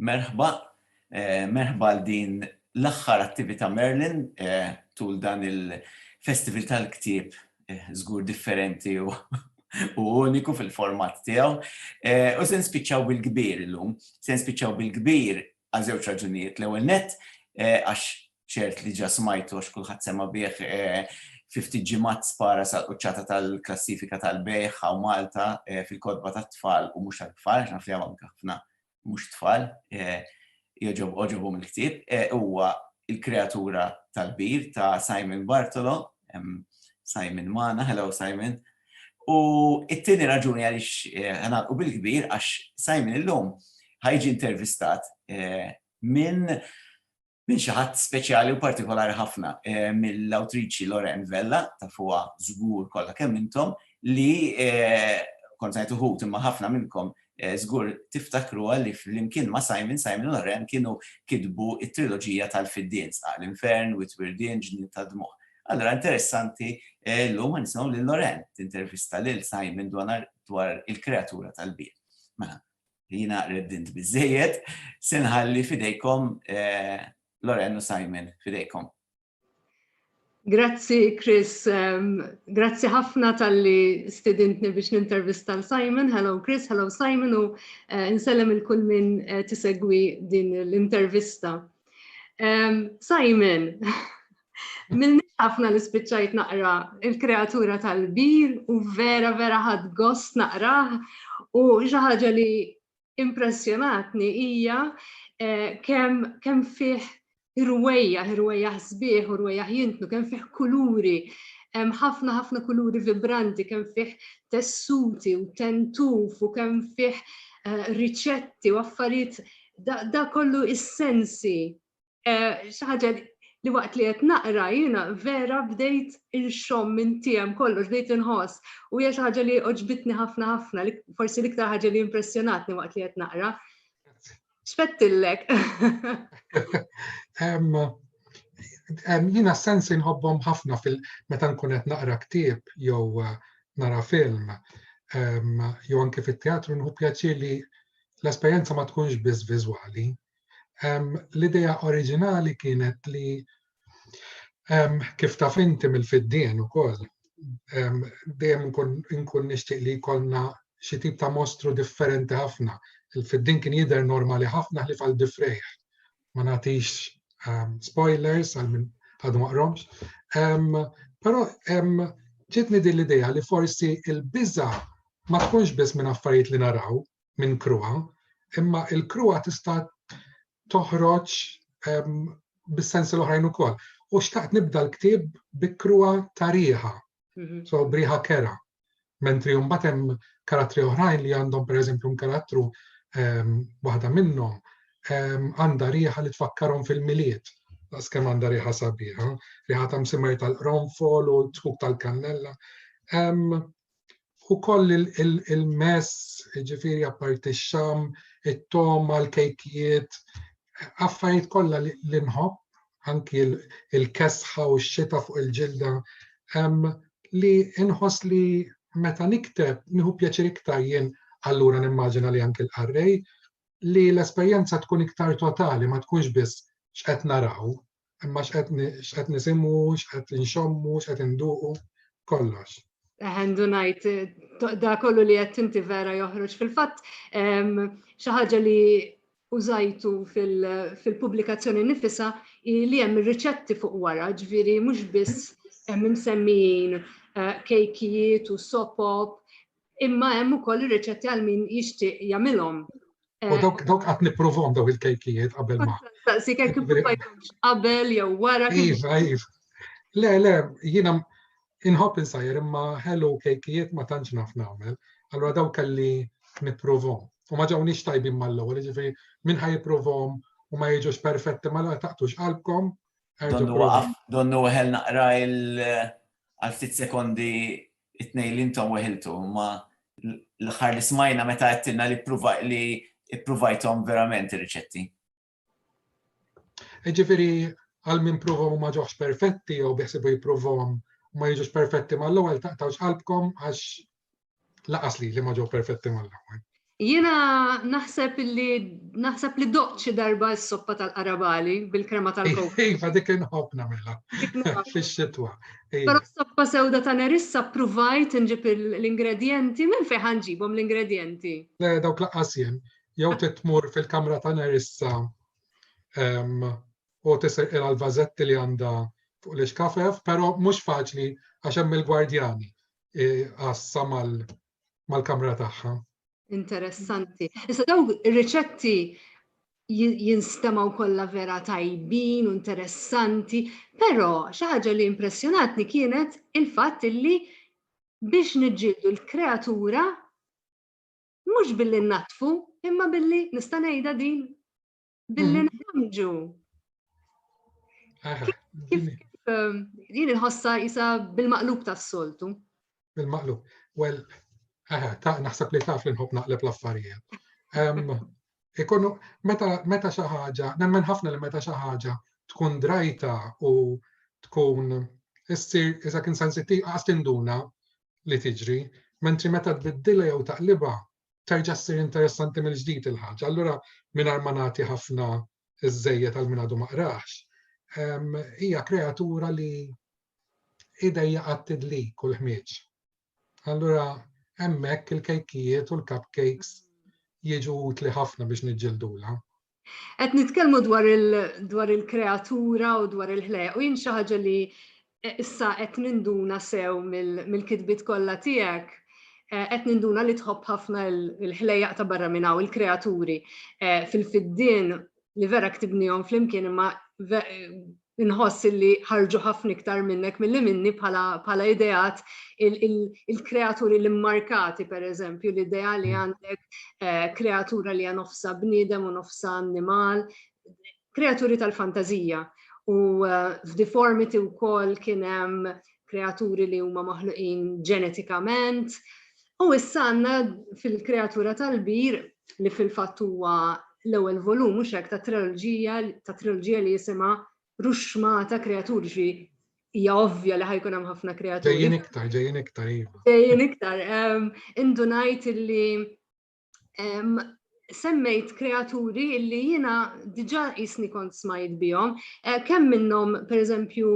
Merħba, merħba għal din l-aħħar attivita' Merlin tul dan il-Festival tal-Ktieb żgur differenti u uniku fil-format tiegħu. U se nspiċċaw bil-kbir illum. Se nspiċċaw bil-kbir għal żewġ raġunijiet. L-ewwel nett għax ċert li ġa smajtu għax kulħadd sema bih eh, fi ftit ġimgħat spara sal-quċċata tal-klassifika tal-bejħ u Malta eh, fil-kodba tat-tfal u mhux tal-tfal, naf li hawn ħafna mhux tfal, eh, joġob oġobhom il-ktieb, huwa il-kreatura tal-bir ta' Simon Bartolo, Simon Mana, hello Simon. U it-tieni raġuni għaliex ħana u bil-kbir għax Simon illum ħajġi intervistat minn minn xi ħadd speċjali u partikolari ħafna, eh, mill-awtriċi Lorraine Vella, ta' fuqha żgur kollha kemm intom, li eh, kont ngħid uħud imma ħafna minnkom eh, żgur tiftakru li flimkien ma' Simon, Simon Lorraine kienu kitbu it-triloġija tal-Fiddin, Sqaq l-Infern, Witwirdin, Ġnien ta' Dmuħ. Allora interessanti l-lum ma nisimgħu lil Lorraine tintervista lil Simon dwar il-kreatura tal-bir. Mela, li jina reddint bizzejiet, senħalli fidejkom eh, Loren u Simon, fidejkom. Grazzi, Chris. Um, grazzi ħafna tal-li stidintni biex nintervista l-Simon. Hello, Chris. Hello, Simon. U uh, nsellem il-kull minn uh, tisegwi din l-intervista. Um, Simon, Milni ħafna li spiċċajt naqra il-kreatura tal-bil u vera vera ħad gost naqraħ u xi ħaġa li impressjonatni hija eh, kemm kem fih irwejja, irwejja sbieħ u rwejja jintnu, kemm fih kuluri, ħafna ħafna kuluri vibranti, kemm fih tessuti u tentuf u kemm fih eh, riċetti u affarijiet da kollu is-sensi Xi ħaġa li waqt li qed naqra jiena vera bdejt inxomm minn tiegħem kollox, bdejt inħoss u hija xi ħaġa li oġbitni ħafna ħafna, forsi l-iktar ħaġa li impressjonatni waqt li qed naqra. X'fettillek? Jiena sens inħobbhom ħafna fil meta nkun qed naqra ktieb jew eh, nara film jew anke fit-teatru nħu pjaċir li l-esperjenza ma tkunx biss viżwali, L-idea oriġinali kienet li kif taf inti mill-fiddien ukoll dejjem nkun nixtieq li jkollna xi tip ta' mostru differenti ħafna. Il-fiddin kien jidher normali ħafna ħlif għal difrejħ. Ma nagħtix spoilers għal min għadu maqromx. Però ġitni din l-idea li forsi il-biża ma tkunx biss minn affarijiet li naraw, minn kruha, imma il-kruha tista' toħroġ bis-sensi l-oħrajn ukoll. U xtaqt nibda l-ktieb bi kruha ta' riħa, mhm. so briħa kera. Mentri mbagħad hemm karattri oħrajn li għandhom pereżempju karattru waħda minnhom għandha riħa li tfakkarhom fil-miliet. Għas kemm għandha riħa sabiħa, riħa ta' msimer tal-qronfol u t-tħuk tal-kannella. ukoll il-mess, ġifiri apparti x-xam, it-toma, l-kejkijiet, affarijiet kollha li nħobb, anki il-kesħa u x-xita fuq il-ġilda, li inħoss li meta nikteb nieħu pjaċir iktar jien allura nimmaġina li anki l-qarrej li l-esperjenza tkun iktar totali ma tkunx biss x'qed naraw imma x'qed nisimgħu, x'qed inxommu, x'qed induqu, kollox. Eħendu najt, da kollu li qed inti vera joħroġ fil-fatt xi ħaġa li użajtu fil-pubblikazzjoni nifisa li hemm riċetti fuq wara, ġviri mhux biss hemm imsemmijin eh, kejkijiet u sopop, Imma hemm ukoll ir-riċetti għal min jixtieq jagħmilhom. U dawk eh, dawk qatt nipprovhom daw il-kejkijiet qabel ma. Saqsi kejk qabel jew wara. Iva, iva. Le, le, jiena inħobb insajr imma ħelu kejkijiet ma tantx naf nagħmel. Allura dawk kelli nipprovhom. U ma ġawnix tajbin mal-ewwel, ġifieri minn ħaj jipprovhom u ma jiġux perfetti ma la taqtux qalbkom. Donnu waqaf, donnu ħel naqra il għal ftit sekondi It-tnejn li intom weħiltu huma l-aħħar li smajna meta għedtilna li li ippruvajthom verament ir-riċetti. Ġifieri għal min provhom ma ġewx perfetti jew biħsibu jipprovhom ma jiġux perfetti mal-ewwel taqtawx qalbkom għax laqas li li ma ġew perfetti mal-ewwel. Jiena naħseb li naħseb li doqt xi darba s-soppa tal-qarabali bil-krema tal-kokos. Iva, dik inħobb nagħmilha fix-xitwa. Però s-soppa sewda ta' nerissa pruvajt nġib l-ingredjenti minn fejn ħanġibhom l-ingredjenti. Le dawk laqqas jien, jew titmur fil-kamra ta' nerissa u tisir il vazetti li għandha fuq l-iskafef, pero mux faċli għax hemm il-gwardjani għassa mal-kamra tagħha. Interessanti. Issa daw riċetti jinstemaw kollha vera tajbin u interessanti, però xi ħaġa li impressjonatni kienet il-fatt illi biex niġġieldu l-kreatura mhux billi natfu imma billi nista' ngħidha din Billi mm. nħamġu. Ah, kif ehm, din il-ħossa jisa bil-maqlub tas-soltu? Bil-maqlub. Well, aha, ta' naħseb li taf li nħob naqleb l-affarijiet. Ehm, ikunu, meta xi ħaġa, nemmen ħafna li meta xi ħaġa tkun drajta u tkun issir iżda kien sensittiv għas tinduna li tiġri, mentri meta tbiddilha jew taqliba terġa' ssir interessanti mill-ġdid il-ħaġa. Allura mingħajr ma nagħti ħafna żejjed għal min għadu ma qrax, hija kreatura li idejja għat-tidli kull ħmieġ. Allura hemmhekk il-kejkijiet u l-cupcakes jiġu utli ħafna biex niġġildula. Qed nitkellmu dwar il-kreatura u dwar il-ħleq u jien xi ħaġa li eh, issa qed ninduna sew mill-kitbiet kollha tiegħek eh, qed ninduna li tħobb ħafna l-ħlejaq ta' barra minn hawn il-kreaturi eh, fil-fiddien li vera ktibnihom flimkien imma Inħoss illi ħarġu ħafna iktar minnek milli minni bħala bħala ideat il il il-kreaturi l-immarkati pereżempju l-idea li għandek kreatura li hija nofsha bniedem u nofsha annimal, kreaturi tal-fantażija. U f'Deformity wkoll kien hemm kreaturi li huma maħluqin ġenetikament, U issa għandna fil-kreatura tal-bir li fil-fatt huwa l-ewwel volum mhux hekk ta' triloġija ta' triloġija li jisimha Ruxmata Kreatur ġi hija ovvja li ħajkun hemm ħafna kreaturi. Ġejjin iktar, ġejjin iktar iva. Ġejjin iktar. Ehm, indunajt illi ehm, semmejt kreaturi illi jiena diġà jisni kont smajt bihom, eh, kemm minnhom pereżempju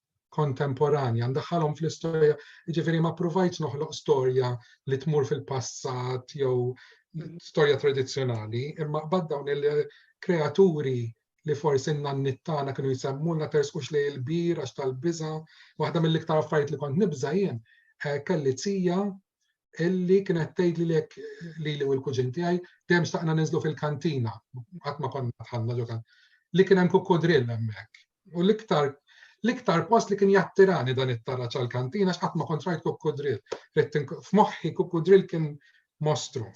kontemporanja, ndaħħalhom fl-istorja, jiġifieri ma provajtx noħloq storja li tmur fil-passat jew storja tradizzjonali, imma qbad dawn il-kreaturi li forsi n-nannittana kienu jisemmuna tersqux li l-bir għax tal-biża, waħda mill-iktar affarijiet li kont nibża jien eh, kelli tija illi kienet tgħid li lek li li l-kuġin tiegħi dejjem staqna ninżlu fil-kantina qatt ma konna tħanna ġo li kien hemm kukkodrill hemmhekk. U l-iktar l-iktar post li kien jattirani dan it-tarra ċal-kantina x'qatt ma kontrajt kukkodrill. F'moħħi kukkodrill kien mostru.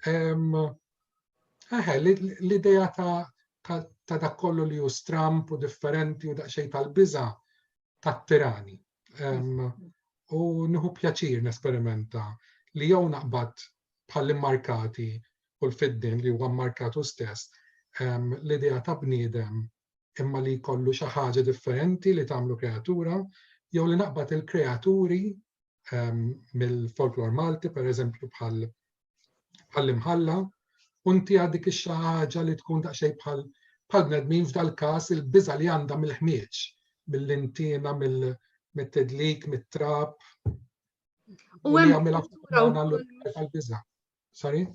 Eħe, l-idea ta' dak kollu li hu stramp u differenti u daqsxejn tal-biża' tat-tirani. u nieħu pjaċir nesperimenta li jew naqbad bħall-immarkati u l-fiddin li huwa mmarkatu stess l-idea ta' bniedem imma li jkollu xi ħaġa differenti li tagħmlu kreatura jew li naqbad il-kreaturi mill-folklor Malti pereżempju bħal bħall-imħalla u ntiha dik ix-xi ħaġa li tkun daqsxejn bħal bħal bnedmin f'dal-każ il-biża' li għandha mill-ħmieġ, mill-intiena, mit-tidlik, mit-trab. U hemm biża Sorry?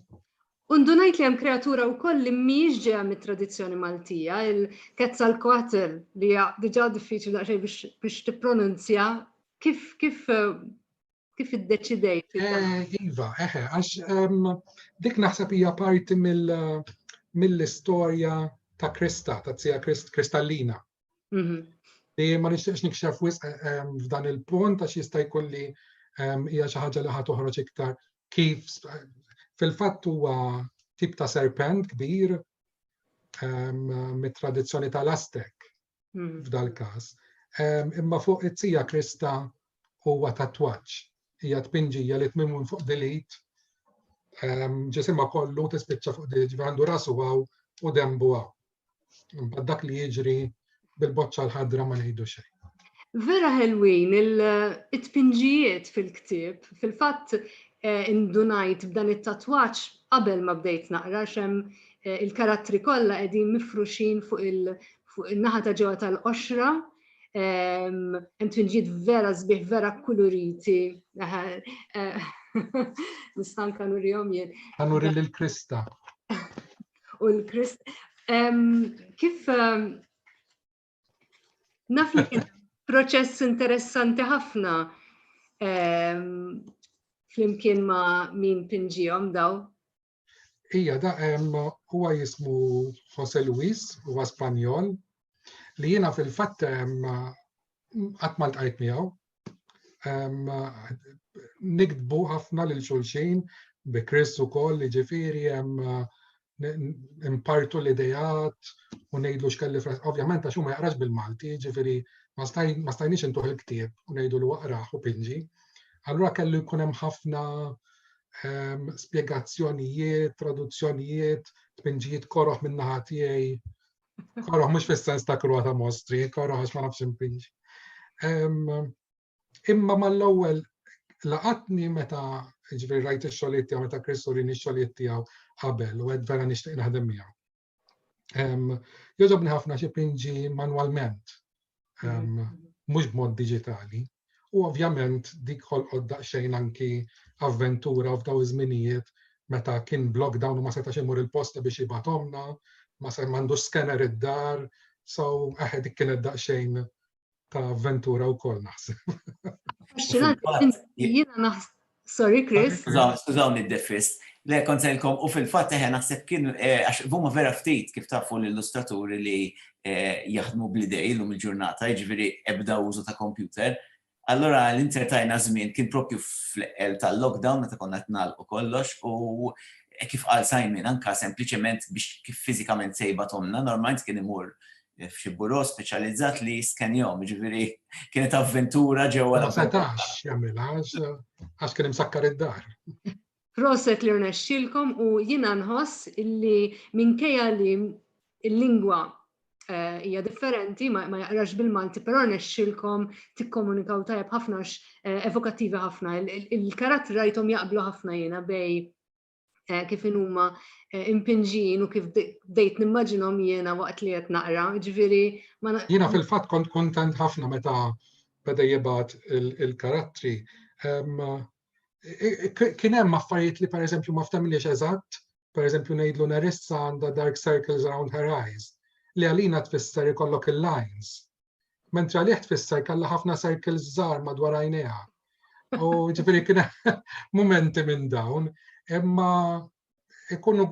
Undunajt li hemm kreatura wkoll li mhijiex ġeja mit-tradizzjoni Maltija, il-kezza l-kwatel li hija diġà diffiċli daqsxejn biex tippronunzja kif kif eh, Kif iddeċidejt? Eh, iva, eħe, eh, għax ehm, dik naħseb hija parti mill-istorja ta' Krista, ta' tzija Kristallina. Mhm. Li ma nixtieqx nikxef wisq eh, ehm, f'dan il-punt għax jista' jkun li ehm, hija xi ħaġa li ħad toħroġ iktar kif fil-fatt huwa tip ta' serpent kbir mit-tradizzjoni tal-Aztek. hmm. f'dal-każ. Ehm, imma fuq it-tija krista huwa tatwaġġ. Hija tpinġija li tmim minn fuq dilit ehm, ġisimha kollu tispiċċa fuq dilit għandu rasu għaw u dembu għaw. Imbagħad dak li jiġri bil-boċċa l-ħadra ma ngħidu xejn. Vera ħelwin il-tpinġijiet fil-ktib, fil-fatt eh, indunajt b'dan it-tatwaċ qabel ma bdejt naqra xem Eh, il-karattri kollha qegħdin mifruxin fuq il-naħa ta' ġewwa tal-qoxra, ehm, hemm twinġiet vera sbieħ, vera kuluriti. Eh, Nistan kanu rihom jien. Kanu ril il-Krista. U l-Krist. Ehm, kif ehm, naf li kien proċess interessanti ħafna flimkien ma' min pinġijom daw Ija da huwa jismu Jose Luis, huwa Spanjol, li jiena fil-fatt qatt ma ltqajt miegħu. Nikdbu ħafna lil xulxin bi Chris ukoll li ġifieri impartu l-idejat u ngħidlu x'kelli fras. Ovvjament għax huma jaqrax bil-Malti, ġifieri ma stajniex intuħ il-ktieb u ngħidu l waqraħ u pinġi. Allura kellu jkun hemm ħafna ehm, spjegazzjonijiet, traduzzjonijiet, tpinġijiet koroħ minn naħa tiegħi. Koroħ mhux fis-sens ta' krua ta' mostri, koroħ għax ma nafx impinġ. Ehm, imma mal-ewwel laqatni meta ġifieri rajt ix-xogħlijiet tiegħu meta Kristu rini x-xogħlijiet tiegħu qabel u qed vera nixtieq naħdem miegħu. Jogħġobni ħafna xi pinġi manwalment, mhux b'mod diġitali, u ovvjament dik ħolqod daqsxejn anki avventura u f'daw iż-żminijiet meta kien blok dawn ma setax imur il-posta biex jibatomna, ma se m'għandux scanner id-dar, so aħe dik kienet daqsxejn ta' avventura wkoll naħseb. Jiena Sorry, Chris. Skużawni d-defist. Le, konselkom, u fil-fat eħe naħseb kien, eh, għax vuma vera ftit kif tafu l-illustraturi li eh, jaħdmu bl-idej l-lum il-ġurnata, ġviri ebda użu ta' kompjuter. Allora l-intertajna żmien kien propju fl-eqel tal-lockdown meta konna tnal u kollox u eh, kif għal sajmin anka sempliciment biex kif fizikament sejba tomna, normalment kien imur f'xi buro speċjalizzat li jiskenjom, ġifieri kienet avventura ġewwa. Ma setax jagħmilha għax kien imsakkar id-dar. Proset li rnexxilkom u jiena nħoss illi minkejja li l-lingwa eh, hija differenti, ma jaqrax bil-Malti, però nexxilkom tikkomunikaw tajjeb ħafna eh, evokattivi ħafna. Il-karattri rajthom jaqblu ħafna jiena bej eh, kif huma eh, impinġin u kif dejt nimmaġinhom jiena waqt li qed naqra, ġifieri ma Jiena fil-fatt kont kontent ħafna meta beda jibgħat il-karattri. Kien hemm affarijiet li pereżempju ma ftemniex eżatt, pereżempju ngħidlu Nerissa għandha dark circles around her eyes, li għalina tfisser ikollok il-lines Mentra li tfisser kalla ħafna circles żgħar madwar għajnejha. U ġifieri kien momenti minn dawn, imma ikunu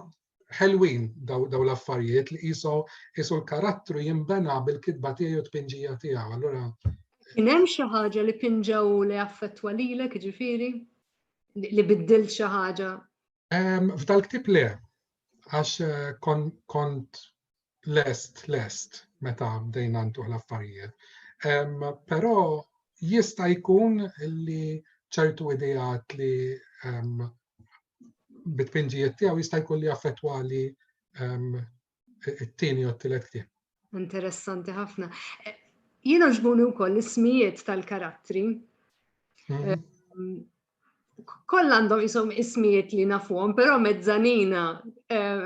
ħelwin daw, daw l-affarijiet li jiso jiso l-karattru jimbena bil-kitba tiegħu tpinġija tiegħu. Allura Kien hemm xi ħaġa li pinġaw li affettwa lilek ġifieri li biddil xi ħaġa? F'dal-ktib le, għax eh, kont lest lest meta bdejna ntuħ l-affarijiet. Però jista' jkun li ċertu idejat li bit-tpinġijiet tiegħu jista' jkun li affettwa li it-tieni u t-tielet ktieb. Interessanti ħafna. Eh, jiena ġbuni wkoll ismijiet tal-karattri. Mhm. Eh, kollha għandhom jisom ismijiet li nafuhom, però mezzanina. Eh,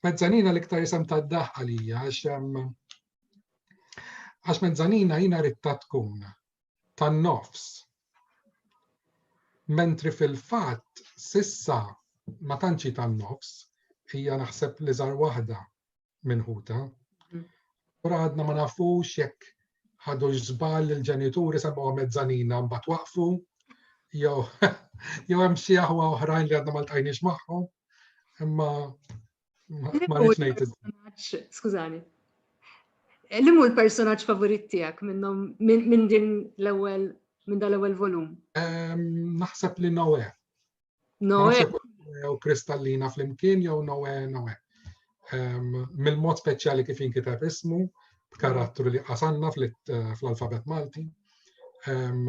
mezzanina l-iktar jisem ta' daħ għalija, għax mezzanina jina ritta tkun tan nofs. Mentri fil-fat, sissa ma tanċi tan nofs, hija naħseb li zar waħda minn ħuta. Ura għadna ma nafux jekk ħadu ġżbal il-ġenituri sabaw mezzanina mbagħad waqfu jew jew hemm xi aħwa oħrajn li għadna ma ltqajniex magħhom. Imma ma rridx ngħid. Skużani. Li mhu l-personaġġ favorit tiegħek minnhom minn din l-ewwel minn dal-ewwel volum? Naħseb li Noe. Noe. U kristallina fl-imkien jew Noe Noe. Ehm, mill-mod speċjali kif jinkiteb ismu, b'karattru li qasanna eh, fl-alfabet Malti. Ehm,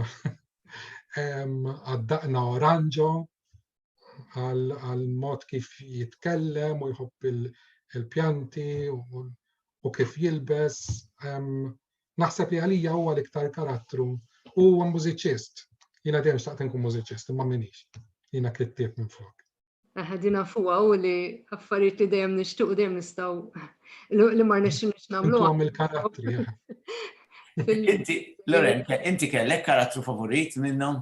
ehm, għaddaqna oranġo għal mod kif jitkellem u jħobb il-pjanti u kif jilbes. Naħseb li għalija huwa l-iktar karattru u huwa mużiċist. Jiena dejjem xtaqt inkun mużiċist imma minix. Jiena kittieb minn flok. Ħadina fuqa u li affarijiet li dejjem nixtieq u dejjem nistgħu li ma rnexxinix nagħmlu. Għam il-karattri. Inti, Lorenka, inti kellek karattru favorit minnhom?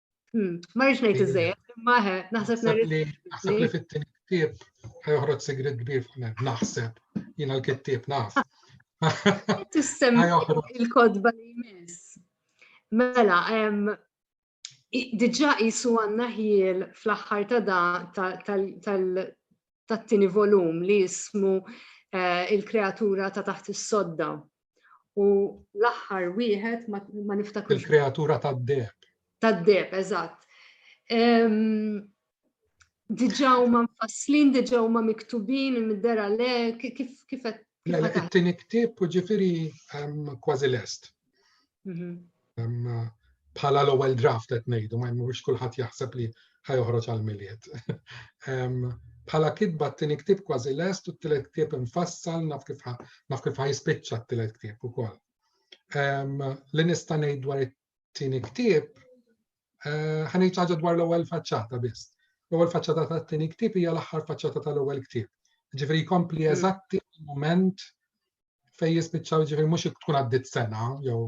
Hmm, ma rridx ngħid iżejjed, imma naħseb Naħseb li fit-tieni ktieb ħajoħroġ sigrit kbir fuq naħseb jiena l-kittieb naf. Tissemmi il-kodba li jmiss. Mela, diġa jisu għanna ħiel fl-axħar ta' da tal-tini volum li jismu eh, il-kreatura ta' taħt is-sodda. U l-aħħar wieħed ma niftakru. Il-kreatura tad-deb. Tad-deb, eżatt. Diġà huma mfasslin, diġà huma miktubin mid-dera le kif kif qed. Mela, it-tieni ktieb ġifieri kważi lest. Mhm. bħala l-ewwel draft qed ngħidu, ma jmurx kulħadd jaħseb li ħajoħroġ għal-miliet. Bħala kitba t-tieni ktieb kważi lest u t-tielet ktieb infassal naf kif naf kif ħajspiċċa t-tielet ktieb ukoll. Li nista' ngħid dwar it-tieni ktieb Eh, ħanej ċaġa dwar l-ewwel faċċata biss. L-ewwel faċċata tat-tieni ktieb hija l-aħħar faċċata tal-ewwel ktieb. Ġifieri jkompli mm. eżatti il-mument fejn jispiċċaw ġifieri mhux tkun għaddit sena jew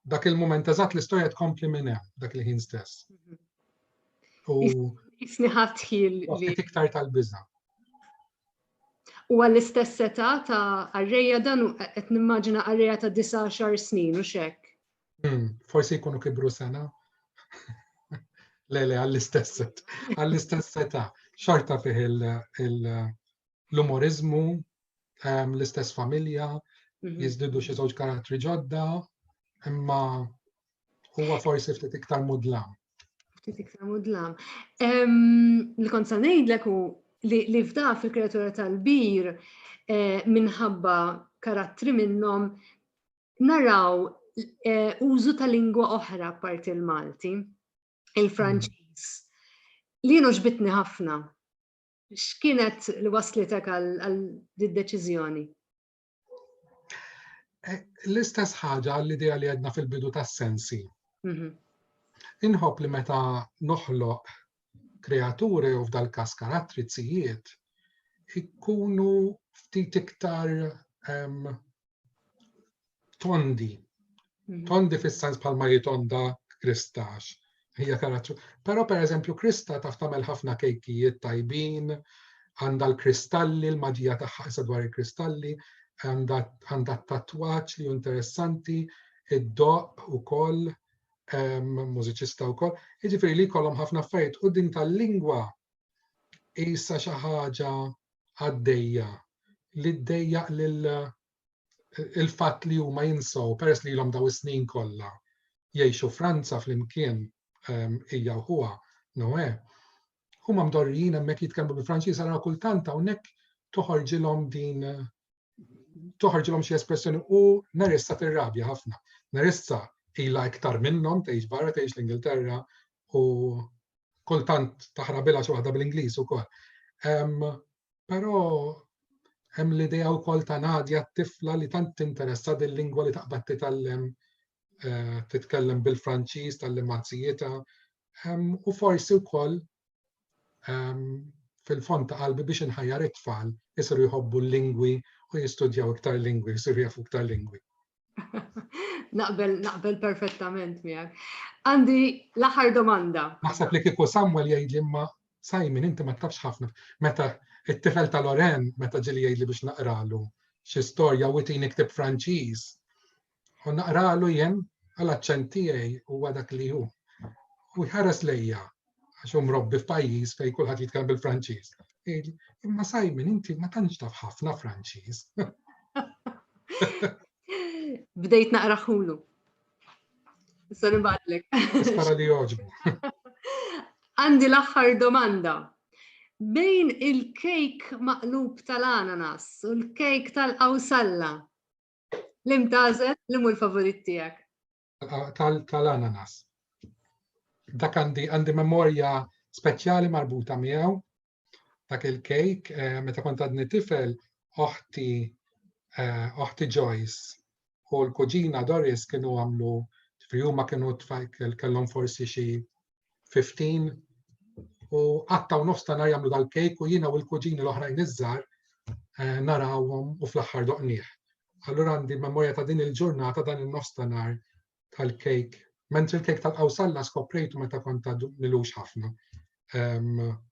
dak il-mument eżatt l-istorja tkompli minn hemm dak il-ħin stess. Mhm. U isniħat ħil li iktar tal-biża. U għall-istess età ta' arreja dan qed nimmaġina arreja ta' 19 snin u xek. Hmm, forsi jkunu kibru sena. le, le, għall-istess għall-istess età. Xorta fih l-umorizmu, ehm, l-istess familja, mhm. jizdidu xi żewġ karattri ġodda, imma huwa forsi ftit iktar mudlam. Ftit iktar mudlam. Ehm, li kont sa ngħidlek u li fda fil-kreatura tal-bir eh, minħabba karattri minnhom naraw eh, użu ta' lingwa oħra parti l-Malti, il-Franċiż, li jienu ġbitni ħafna. X'kienet li waslitek għal deċiżjoni? Eh, l-istess ħaġa l-idea li għedna fil-bidu tas-sensi. Mhm. Inħobb li meta noħloq kreaturi u f'dal kas karattrizijiet ikkunu ftit iktar tondi. Hmm. Tondi fis-sens bħalma jitonda kristax. Hija karattru. Però per eżempju Krista taf tagħmel ħafna kejkijiet tajbin, għandha l-kristalli, l-maġija tagħha issa dwar il-kristalli, għandha t-tatwaċ li interessanti, id-doq u koll, mużiċista u koll. Iġifiri li kollom ħafna affarijiet u din tal-lingwa jissa xi ħaġa għaddejja li ddejjaq lil il-fatt li huma jinsaw peress li l-om daw is-snin kollha jgħixu Franza flimkien ehm, hija u huwa Noe. Huma mdorrijin hemmhekk jitkellmu bil-Franċiż ara kultant hawnhekk toħorġilhom din toħorġilhom xi espressjoni u Narissa tirrabja ħafna. Narissa ila iktar minnhom tgħix barra tgħix l-Ingilterra u kultant taħrabilha xi waħda bl-Ingliż ukoll. Però hemm l-idea wkoll ta' Nadja t-tifla li tant tinteressa dil-lingwa li taqbad titgħallem eh, titkellem bil-Franċiż tal-limazzijieta u forsi wkoll ehm, fil-fond ta' qalbi biex inħajjar it-tfal jisiru jħobbu l-lingwi u jistudjaw iktar lingwi, jisiru jafu iktar lingwi. naqbel, naqbel perfettament miegħek. Għandi l-aħħar domanda. Naħseb li kieku Samuel jgħid li ma Simon inti ma tafx ħafna. Meta it-tifel ta' Loren meta ġili jgħidli biex naqralu xi storja u tini ktib Franċiż U naqralu jien għal aċċent tiegħi huwa dak li hu. U jħares lejja għax hu mrobbi f'pajjiż fejn kulħadd jitkellem bil-Franċiż. Imma Simon, inti ma tantx taf ħafna Franċiż. Bdejt naqraħulu. Issa nibgħatlek. Spara li joġbu. Għandi l-aħħar domanda. Bejn il-kejk maqlub tal-ananas u l-kejk tal-qawsalla, Li mtażel li mu l-favorit tiegħek? Tal-ananas. Dak għandi għandi memorja speċjali marbuta miegħu. Dak il-kejk eh, meta kont għadni tifel oħti eh, oħti Joyce u l-kuġina Doris kienu għamlu ġifri huma kienu kellhom forsi xi 15 u għatta u nofs ta' nar jagħmlu dal-kejk u jiena u l-kuġini l-oħrajn iż-żar eh, narawhom u fl-aħħar doqnieh. Allura għandi memorja ta' din il-ġurnata dan il-nofs ta' nar tal-kejk. Mentri l-kejk tal-qawsalla skoprejtu meta kont ta' milux ħafna.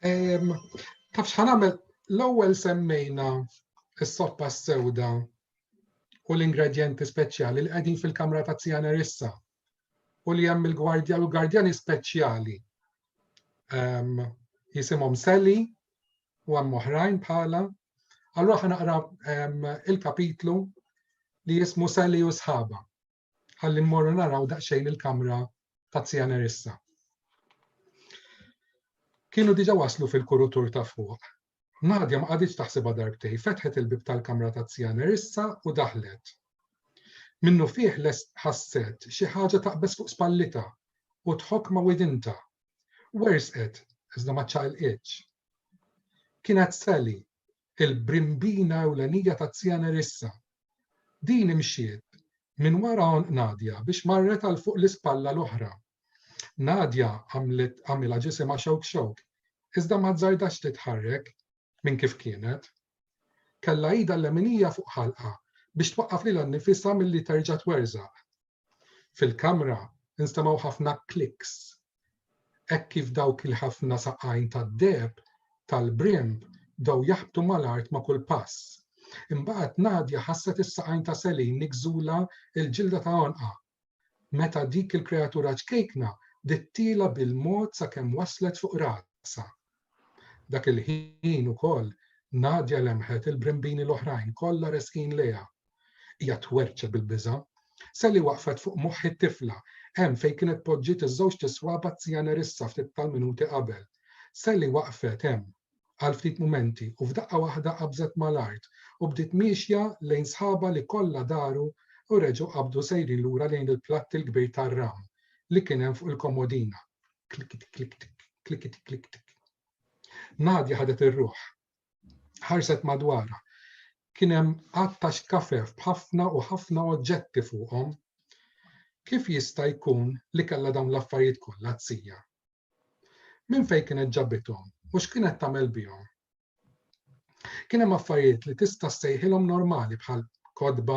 Taf xħan għamil l-ewwel semmejna s-soppa s-sewda u l-ingredienti speċjali li qegħdin fil-kamra ta' Tsiana Rissa u li hemm il-gwardja u gwardjani speċjali. Ehm, jisimhom Sally u hemm oħrajn bħala. Allura ħanaqra ehm, il-kapitlu li jismu Sally u sħaba. ħalli mmorru naraw daqsxejn il-kamra ta' Zija Nerissa. Kienu diġa waslu fil-kurutur ta' fuq. Nadja ma qaditx taħsibha darbtej, fetħet il-bib tal-kamra ta' Zija Nerissa u daħlet. Minnu fih les ħasset xi ħaġa taqbeż fuq spallita u tħokk ma' widinta. Wersqet, iżda ma ċaqilqitx. Kienet Sally, il-brimbina ewlenija ta' Zia Nerissa. Din imxiet minn wara għonq Nadia biex marret għal fuq l-ispalla l-oħra. Nadia għamlet għamilha ġisimha xewk xewk, iżda ma żżardatx titħarrek minn kif kienet. Kellha idha l-leminija fuq ħalqha biex twaqqaf lilha nnifisha milli terġa' twerżaq. Fil-kamra instemgħu ħafna kliks. Hekk kif dawk il-ħafna saqajn tad-deheb tal-brimb bdew jaħbtu mal-art ma' kull pass. Imbagħad Nadja ħasset is-saqajn ta' Selin nigżula l-ġilda ta' għonqha. Meta dik il-kreatura ċkejkna dittiela bil-mod sakemm waslet fuq rasha. Dak il-ħin ukoll Nadia lemħet il-brimbini l-oħrajn kollha resqin lejha. Hija twerċet bil-biża'. Sally waqfet fuq moħħ it-tifla, hemm fejn kienet poġġiet iż-żewġ tiswab għat-Zija Nerissa ftit tal-minuti qabel. Sally waqfet hemm għal ftit mumenti u f'daqqa waħda qabżet mal-art u bdiet miexja lejn sħabha li kollha daru u reġgħu qabdu sejrin lura lejn il-platt il-kbir tar-ram li kien hemm fuq il-komodina. Klikit klikt, klikit klikt. Nadja ħadet ir-ruħ. Ħarset madwara. Kien hemm għatta xkafef b'ħafna u ħafna oġġetti fuqhom. Kif jista' jkun li kellha dawn l-affarijiet kollha t-sija? Minn fejn kienet ġabithom u x'kienet tagħmel bihom? Kien hemm affarijiet li tista' ssejħilhom normali bħal kotba,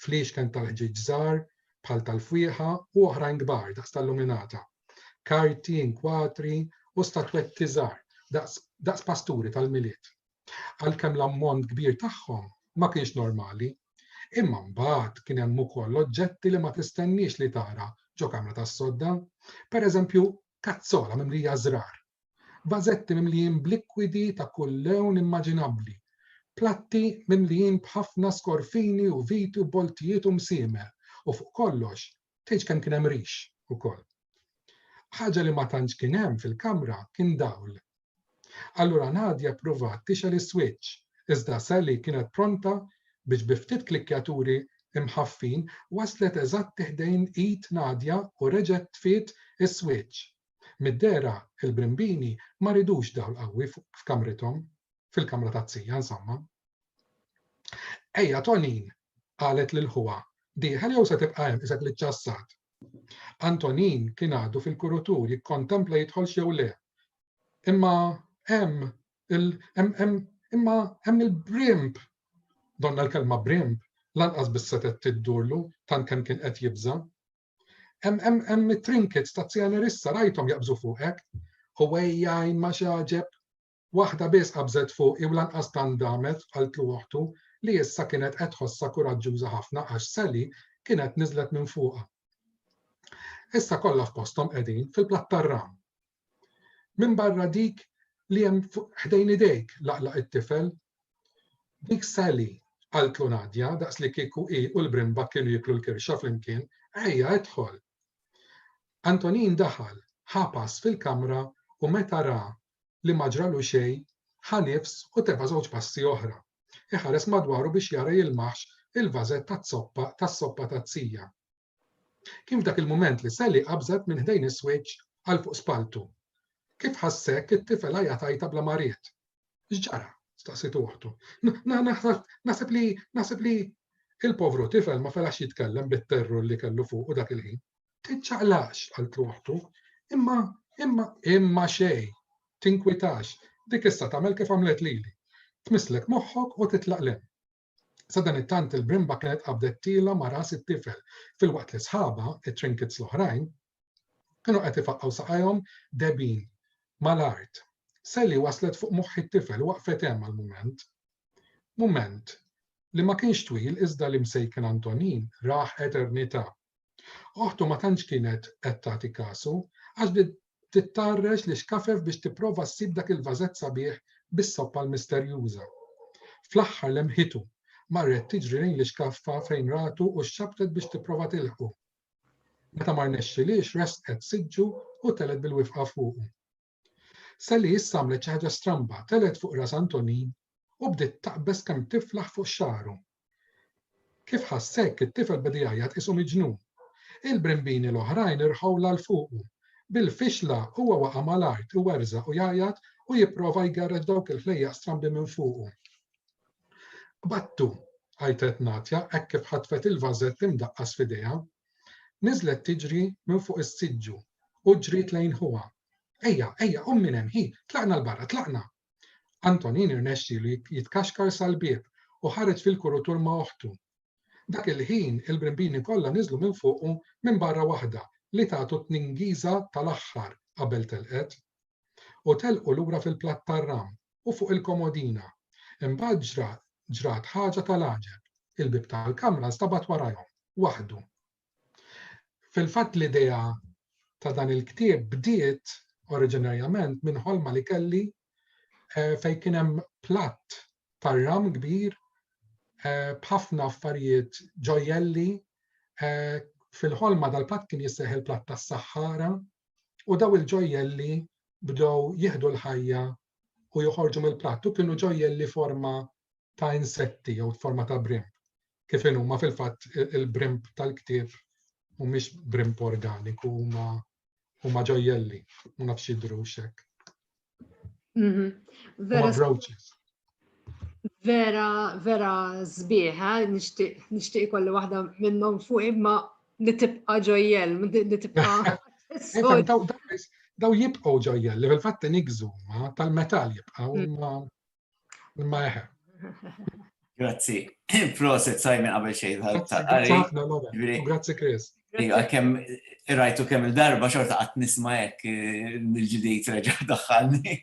fliexken tal-ħġieġ żgħar, bħal tal-fwieħa u oħrajn kbar daqs tal-luminata, karti, inkwatri u statwetti żgħar daqs pasturi tal-milied. Għalkemm l-ammont kbir tagħhom ma kienx normali, imma mbagħad kien hemm ukoll oġġetti li ma tistenniex li tara ġo kamra tas-sodda, pereżempju kazzola mimlija żrar Vażetti mimlijin b'likwidi ta' kull lewn immaġinabbli, platti mimlijin b'ħafna skorfini u viti u boltijiet u msiemer, u fuq kollox, tgħidx kemm kien hemm rix ukoll. Ħaġa li ma tantx kien hemm fil-kamra kien dawl. Allura Nadia ppruvat tixgħel is-swiċċ, iżda Sally kienet pronta biex bi ftit klikkjaturi mħaffin waslet eżatti ħdejn id Nadia u reġgħet tfiet is-swiċċ Mid-dehra il-brimbini ma ridux dawl qawwi f'kamrithom, fil-kamra taz-zija insomma. Ejja Tonin, qalet lil ħuha, dieħel jew se tibqa' hemm qisek li ċċassat? Antonin kien għadu fil-kurutur jikkontempla jidħolx jew le. Imma hemm il imma hemm il-brimb! Donna l-kelma brimb lanqas biss setgħet tiddurlu tant kemm kien qed jibża'. Hemm it-trinkets ta' Zjanerissa rajthom jaqbżu fuqek. Ħwejjajn ma x'għaġeb. Waħda biss qabżet fuqi u lanqas tant damet, qaltlu oħtu, li issa kienet qed tħossha kuraġġuża ħafna għax Sally kienet niżlet minn fuqha. Issa kollha f'posthom qegħdin fil-plattarram. Minbarra dik li hemm ħdejn idejk, laqlaq it-tifel. Dik Sally, qaltlu Nadia, daqslikieku hi u l-brimba kienu jieklu l-kirxa flimkien, ejja, idħol. Antonin daħal, ħa pass fil-kamra u meta ra li ma ġralu xejn, ħa nifs u teba' żewġ passi oħra. Iħares madwaru biex jara jilmaħx il-vażett taz-zoppa tas-soppa taz-zija. Kien f'dak il-mument li Sally qabżet minn ħdejn is-swiċċ għal fuq spalltu. Kif ħass hekk, it-tifel għajat għajta bla ma ried. X'ġara? staqsitu oħtu. Naħseb li naħseb li il-povru tifel ma felax jitkellem bit-terror li kellu fuq u dak il-ħin. Tiċċaqlax, qaltlu oħtu, imma imma imma xej, tinkwitax, dik issa tagħmel kif għamlet lili. Tmisslek moħħok u titlaq lem. Sadanittant il-brimba kienet qabdettilha ma' ras it-tifel, filwaqt li sħabha, it-trinkets l-oħrajn, kienu qed ifaqqgħu saqajhom debgħin mal-art. Sally waslet fuq moħħ it-tifel u waqfet hemm għal mument. Mument li ma kienx twil iżda li Msejken Antonin rah eternità. Oħtu ma tantx kienet qed tagħti kasu għax bdiet tittarrex l-ixkafef biex tipprova ssib dak il-vażett sabiħ bis-soppa l-misterjuża. Fl-aħħar lemħitu, marret tiġri lejn l-ixkaffa fejn ratu u xxabbtet biex tipprova tilħqu. Meta ma rnexxilhiex resqet siġġu u telgħet bil-wifqa fuqu. Sally issa għamlet xi ħaġa stramba, telgħet fuq ras Antonin u bdiet taqbeż kemm tiflaħ fuq xagħru. Kif ħass hekk, it-tifel beda jgħajjat qisu miġnun. Il-brimbini l-oħrajn irħu l fuqu. Bil-fixla huwa waqa' mal-art, iwerżaq u jgħajjat u jipprova jgerreġ dawk il-ħlejjaq strambi minn fuqu. Qbadtu, għajtet Natja hekk kif ħatfet il-vażett imdaqqas f'idejha. Niżlet tiġri minn fuq is-siġġu u ġriet lejn ħuha. Ejja, ejja, qum minn hemm, hi, tlaqna 'l barra, tlaqna! Antonin irnexxielu jitkaxkar sal-bieb u ħareġ fil-kurutur ma' oħtu. Dak il-ħin il-brimbini kollha niżlu minn fuqu minn barra waħda li tatu t-tningiża tal-aħħar qabel telqet. U telqu lura fil-platt tar-ram u fuq il-komodina. Imbagħad ġra, ġrat ħaġa tal-għaġeb, il-bieb tal-kamra nstabat warajhom, waħdu. Fil-fatt l-idea ta' dan il-ktieb bdiet oriġinarjament minn ħolma li kelli eh, fejn kien hemm platt tar-ram kbir eh, b'ħafna affarijiet ġojjelli eh, fil-ħolma dal-platt kien jisseħ il-platt tas-Saħħara u daw il-ġojjelli bdew jieħdu l-ħajja u joħorġu mill-platt u kienu ġojjelli forma ta' insetti jew forma ta' brimb. Kif huma fil-fatt il-brimb tal-ktieb mhumiex brimb organiku huma huma ġojjelli, ma nafx jidru xek. Mhm. Vera. Brooches. Vera, vera zbieħ, eh? nishtiq kolli waħda minnhom fuq imma li tibqa' ġojjel, li tibqa' Daw jibqgħu ġojjel, li fil-fatt inigżu ma tal-metal jibqgħu mm. imma imma eħe. Grazzi. Proset sajmi qabel xejn tal-qari. Grazzi Chris. Iva, kemm rajtu kemm il-darba xorta qatt nisma' hekk eh, mill-ġdid reġa' daħħalni.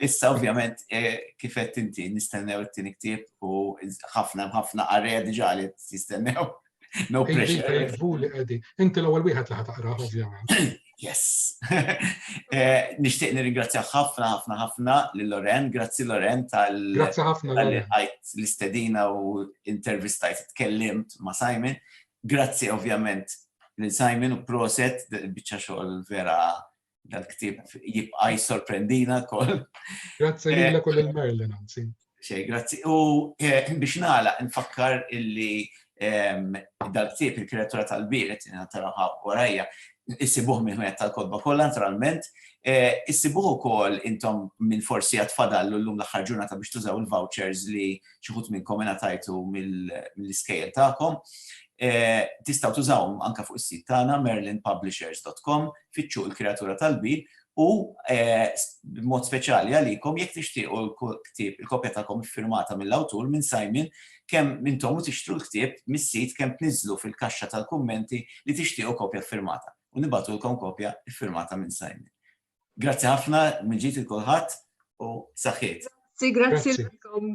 Issa ovvjament eh, kif qed inti nistennew it-tieni ktieb u ħafna ħafna qarrejja diġà li jistennew. No pressure. Inti l-ewwel wieħed li ħataqrah ovvjament. Yes. Eh, Nishtiq nirringrazzja ħafna ħafna ħafna lil Loren, grazzi Loren tal Grazzi ħafna l-istedina u intervistajt tkellimt ma' Simon. Grazzi ovvjament lil Simon u proset, biċċa xogħol vera dal-ktieb jibqa' jissorprendina wkoll. Grazzi lilek u lil Merlin anzi. Xej, grazzi. U eh, biex nagħlaq nfakkar illi ehm, dal-ktieb il-kreatura tal-biret, taraw warajja, issibuh minn ħmejja tal-kodba kollha naturalment, eh, issibuh ukoll intom minn forsi għad fadallu llum l-aħħar ġurnata biex tużaw il-vouchers li xi ħut minnkom ingħatajtu mill-iskejjel tagħkom. Tistgħu tużawhom anke fuq is-sit tagħna merlinpublishers.com, fittxu l-kreatura tal-bil u b'mod speċjali għalikom jekk tixtiequ l-ktieb, il-kopja tagħkom iffirmata mill-awtur minn Simon, kemm intom u tixtru l-ktieb mis-sit kemm tniżżlu fil-kaxxa tal-kummenti li tixtiequ kopja ffirmata u nibgħatulkom kopja ffirmata minn Simon. Grazzi ħafna mill-ġdid lil kulħadd u saħħiet. Grazzi, grazzi lilkom.